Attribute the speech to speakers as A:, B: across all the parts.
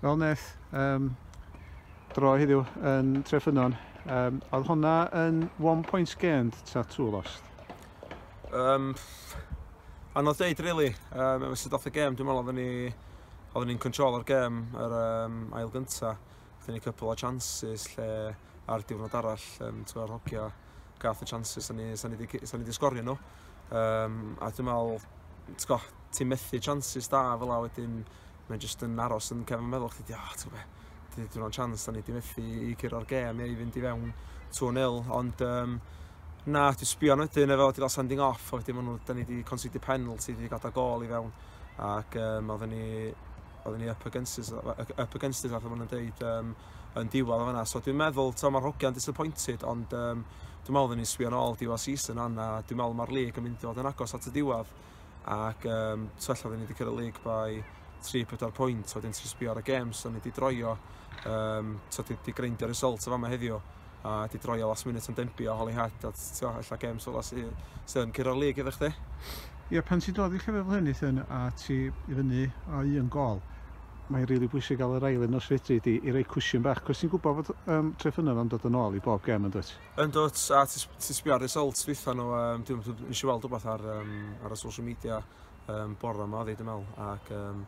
A: Fel wnaeth um, dro heddiw yn Treffynon, um, oedd hwnna yn one point gained ta two lost? Um, anodd deud, really. Um, efe sydd off y gêm, dwi'n meddwl oedden ni oedden ni'n control o'r gêm yr um, ail gynta. Oedden ni cwpl o chances lle ar diwrnod arall, um, ti'n meddwl, hogia gath y chances, sa'n ni, sa ni, sa ni di sgorio nhw. Um, a dwi'n meddwl, ti'n go, ti'n methu chances da fel a wedyn mae'n jyst yn aros yn cefn meddwl chdi, oh, ti'n gwybod be, dwi o'n chance da ni di methu i curo'r gem neu i fynd i fewn 2-0, ond um, na, dwi'n sbio nhw wedyn efo wedi cael sending off, a wedyn maen nhw, da ni wedi conceded penalty, wedi gadael gol i fewn, ac um, oedden ni oedden ni up against us, up against us, fatha maen nhw'n dweud, um, yn diwedd o fanna. So dwi'n meddwl, to, mae'r hogiau'n disappointed, ond um, dwi'n meddwl oedden ni'n sbio nôl diwedd season anna, dwi'n meddwl mae'r lig yn mynd i fod yn agos at y diwedd. ac um, twell oedden ni wedi cyrraedd lig by 3-4 pwynt, wedyn ti'n sbio ar y games, o'n ni wedi droio, um, twell wedi greindio'r result o fama heddiw, a wedi droio last minute yn dembio, holy hat, a ti'n allan games ola sydd yn cyrraedd lig iddo chdi. Ie, pan ti'n dod i llefydd fel hyn, Ethan, a ti i fyny o un gol, mae'n rili really bwysig gael yr ail un os fedri di i roi cwsiwn bach, cos ti'n gwybod bod um, trefynnau am dod yn ôl i bob gem yn dweud? Yndw, a ti, ti sbio ar results dwytha nhw, um, dwi'n dwi, nes i weld rhywbeth ar, um, ar y social media um, bore yma, ddeud yn meddwl, ac um,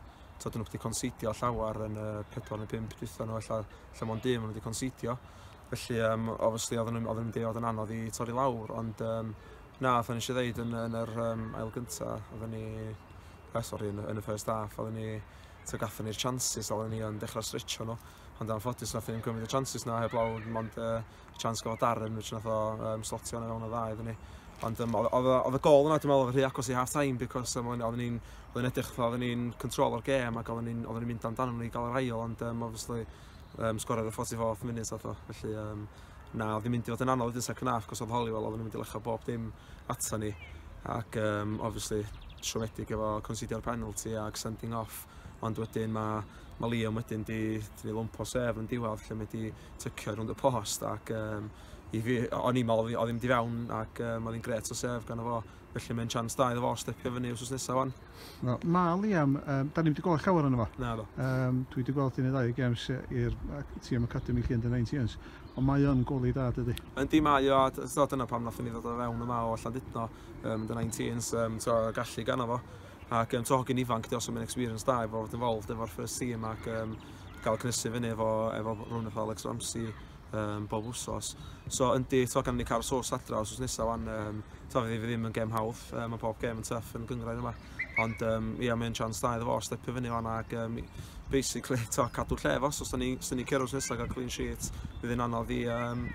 A: tyd nhw wedi considio llawer yn y 4 neu 5 dwytha nhw, lle, lle mo'n dim nhw wedi considio. Felly, um, obviously, oedden nhw'n mynd i fod yn anodd i torri lawr, ond um, na, oedden ni eisiau ddeud yn, yn yr um, ail gyntaf, oedden ni, eh, sorry, yn, yn y first half, oedden ni, tyd gathen ni'r chances, oedden ni yn dechrau stretcho nhw, ond am ffodus nath ni'n cymryd y chances na heb lawr, ond uh, chance go Darren, which nath o um, slotio yn y fewn o dda iddyn ni. Ond um, oedd y gol yna, dwi'n meddwl, oedd rhy agos i half time, because um, oedden ni'n oedden edrych fatha, oedden ni'n control o'r gêm ac oedden ni'n ni mynd amdano ni gael yr ail, ond um, obviously um, sgoriodd y 44th minute oedd o, felly um, na, oedd hi'n mynd i fod yn anodd wedyn second half, cos oedd Holywell, oedd hi'n mynd i lecha bob dim ato ni, ac um, obviously siomedig efo considio'r penalty ac sending off, ond wedyn mae ma Liam wedyn di, di lwmpo sef yn diwedd, lle mae di tycio rownd y post ac um, i fi, o'n i'n meddwl oedd hi'n di fewn ac um, oedd hi'n gret o sef gan efo, felly mae'n chance da iddo fo stepio fyny wrth nesaf fan. No, na, Liam, um, da ni wedi gweld llawer yna fo. Na, do. Um, dwi wedi gweld un neu ddau games i'r tîm Academy lle yn y 19s, ond mae o'n goli da, dydy. Yn di mae o, a dyna pam nath ni ddod o fewn yma o allan dydno, um, yn y 19s, um, to, gallu gan efo. ac um, to hogyn ifanc di os am yn experience da efo fod involved efo'r first team ac um, gael cynnysu fyny efo, efo rhywun efo Alex Ramsey um, bob wsos. So yndi, to gan ni cael sos adra os nesaf wan, um, to fydd fi ddim yn gem hawdd, um, mae bob gem yn tuff yn gyngrair yma. Ond um, ia, mae'n chance da iddo fo, stepio fyny fan ac um, basically to, cadw lle fo, so os ni, os ni cero'r nesaf gael clean sheet, bydd yn anodd i, um,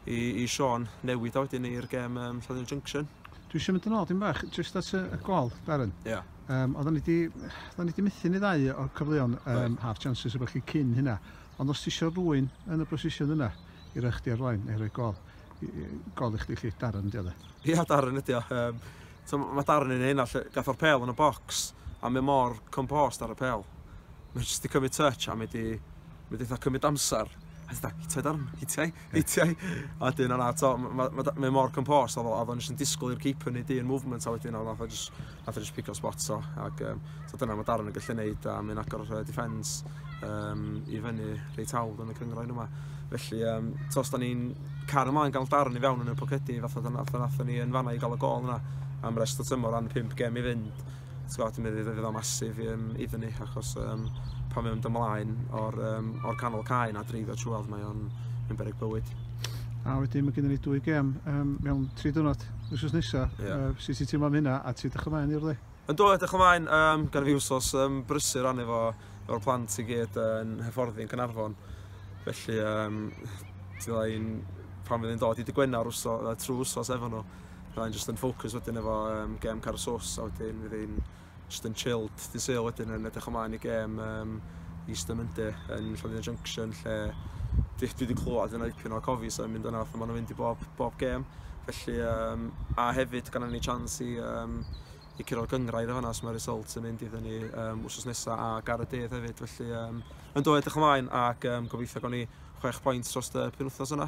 A: i, i Sean newid a wedyn i'r gem um, Llanelli Junction. Dwi isio mynd yn ôl dim bach, jyst at y, y gol, Darren. Ia. Um, oedden ni di, oedden ni di methu ni ddau o'r cyfleon um, right. half chances o chi cyn hynna. Ond os ti isio rwy'n yn y brosision yna, i roi chdi ar flaen, neu roi gol, gol i chdi chi, Darren ydi o dde. Ia, Darren ydi o. Um, so, mae Darren yn hyn, all gath o'r pel yn y bocs, a mae mor compost ar y pel. Mae'n jyst i cymryd touch, a mae di Mae'n eitha cymryd amser. A ti'n hitiau darn, hitiau, hitiau. A wedyn yna, to, mae mor compost, oedd o'n jyst yn disgwyl i'r keeper wneud un movement, a wedyn oedd o'n jyst, nath o'n jyst pico spot o. Ac um, so dyna mae darn yn gallu gwneud, a mae'n agor uh, defence um, i fyny reit hawdd yn y cyngraen yma. Felly, um, to, os da ni'n car ymlaen gael darn i fewn yn y pocedi, fath o dyna, nath o'n ni yn fanna i gael y gol yna am rest o tymor, ran 5 gem i fynd. Sgwad ti'n meddwl fydd o masif i, um, iddyn ni, achos um, pan mae'n mynd ymlaen o'r, um, or canol cae na dreifio trwodd, mae o'n yn berig bywyd. A wedyn mae gennym ni dwy gem um, mewn tri dwrnod, wrth nesaf. Yeah. Uh, sut ti'n teimlo am hynna a ti'n dechrau maen i'r le? Yn dod, dechrau maen, um, gan fi wsos um, brysur ran efo o'r plant i gyd yn hyfforddi yn Cynarfon. Felly, um, ti'n dweud, pan fydd yn dod i dy Gwener trwy wsos efo nhw, Fydda i'n jyst yn ffocws wedyn efo um, gem Carw Sos a wedyn fydd i'n jyst yn chilled dy sale wedyn yn edrych ymlaen i gem um, East o Monday yn Llandudno Junction lle dwi, dwi wedi clywed yna dipyn o cofis yn mynd yna fatha maen nhw'n mynd i bob, bob gem felly um, a hefyd gan ni chance i um, i curo'r gyngrair o hwnna, so mae result yn mynd iddyn ni um, wrsos nesaf a gar y dydd hefyd, felly um, yn dod edrych ymlaen ac um, gobeithio gawn ni chwech pwynt dros y penwthnos yna.